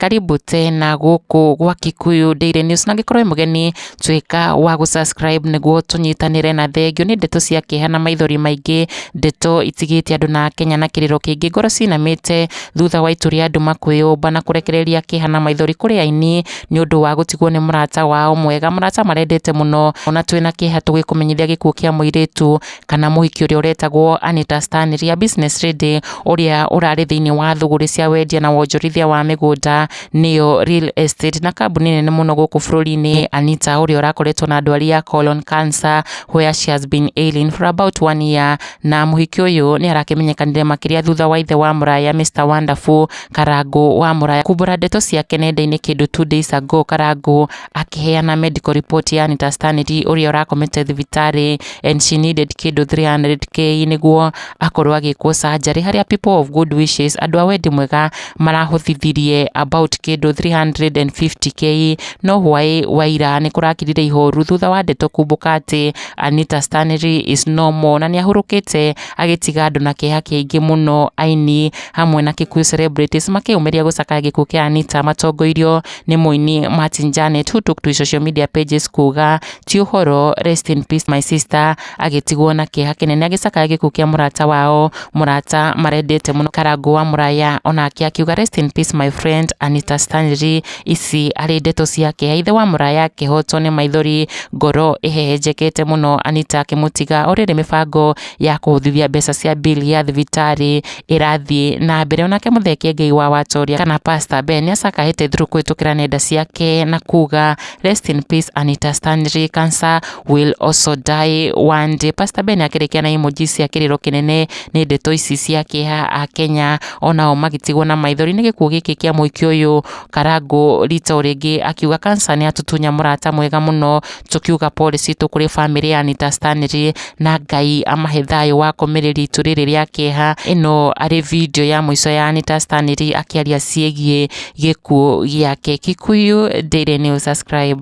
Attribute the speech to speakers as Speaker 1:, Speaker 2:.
Speaker 1: Karibu tena gũkũ gwa Kikuyu Daily News na angĩkorwo wĩ mũgeni tuĩka wa gũ subscribe nĩguo tũnyitanĩre na thengio nĩ ndeto cia kĩeha na maithori maingĩ ndeto itigĩte andũ na Kenya na kĩrĩro kĩingĩ ngoro cinamĩte thutha wa itu rĩa andũ makwĩyũmba na kũrekereria kĩeha na maithori kũrĩ aini nĩ ũndũ wa gũtigwo nĩ mũrata wao mwega, mũrata marendete mũno. Ona twĩna kĩeha tũgĩkũmenyithia gĩkuũ kĩa mũirĩtu kana mũhiki ũrĩa ũretagwo Anita Stanley, a business lady, ũrĩa ũrarĩ thĩinĩ wa thũgũrĩ cia wendia na wonjorithia wa mĩgũnda, nĩyo real estate, na kambuni nene mũno gũkũ bũrũri-inĩ. Anita ũrĩa ũrakoretwo na ndwari ya colon cancer where she has been ailing for about one year, na mũhiki ũyũ nĩ arakĩmenyekanire makĩria thutha wa ithe wa mũraya Mister Wonderful, Karangũ wa Muraya kumbũra ndeto ciake nenda-inĩ kĩndũ two days ago Karangũ akĩheana medical report ya Anita Stanley ũrĩa ũrakomete thibitarĩ and she needed kĩndũ 300k nĩguo akorwo agĩkwo surgery harĩa people of good wishes andũ a wendi mwega marahũthithirie about kĩndũ 350k no hwaĩ wa ira nĩ kũrakirire ihoru thutha wa ndeto kumbũka atĩ Anita Stanley is no more na nĩ ahurũkĩte agĩtiga andũ na kĩeha kĩingĩ mũno aini hamwe na Kikuyu Celebrities makĩyũmĩria gũcakaya gĩkuũ kĩa Anita matongoirio nĩ mũini Martin Janet who took to social media pages kuga ti ũhoro rest in peace my sister agĩtigwo na kĩeha kĩnene agĩcakaya gĩkuũ kĩa mũrata wao mũrata marendete mũno karangũ wa mũraya onake akiuga rest in peace my friend Anita Stanley ici arĩ ndeto cia kĩeha ithe wa mũraya akĩhotwo nĩ maithori ngoro ĩhehenjekete mũno Anita akĩmũtiga orĩrĩ mĩbango ya kũhũthithia mbeca cia bili ya thibitarĩ ĩrathiĩ na mbere onake mũthee kĩengei wa watoria kana pastor ben nĩacakahĩte through kũhĩtũkĩra nenda ciake na kuga rest in peace anita stanley cancer will also die one day pastor ben akĩrĩkia na emoji cia kĩrĩro kĩnene nĩ ndeto ici cia kĩeha a kenya onao magĩtigwo na maithori nĩ gĩkuũ gĩkĩ kĩa mũikia ũyũ Karangũ rita rĩngĩ akiuga Cancer nĩ atutunya mũrata mwega mũno, tũkiuga pole citũ kũrĩ bamĩrĩ ya Anita Stanley na Ngai amahe thayũ wa kũmĩrĩ ritũ rĩrĩ rĩa kĩeha. Ĩno arĩ video ya mũico ya Anita Stanley akĩaria ciĩgiĩ gĩkuũ gĩake. Kikuyu Daily News subscribe.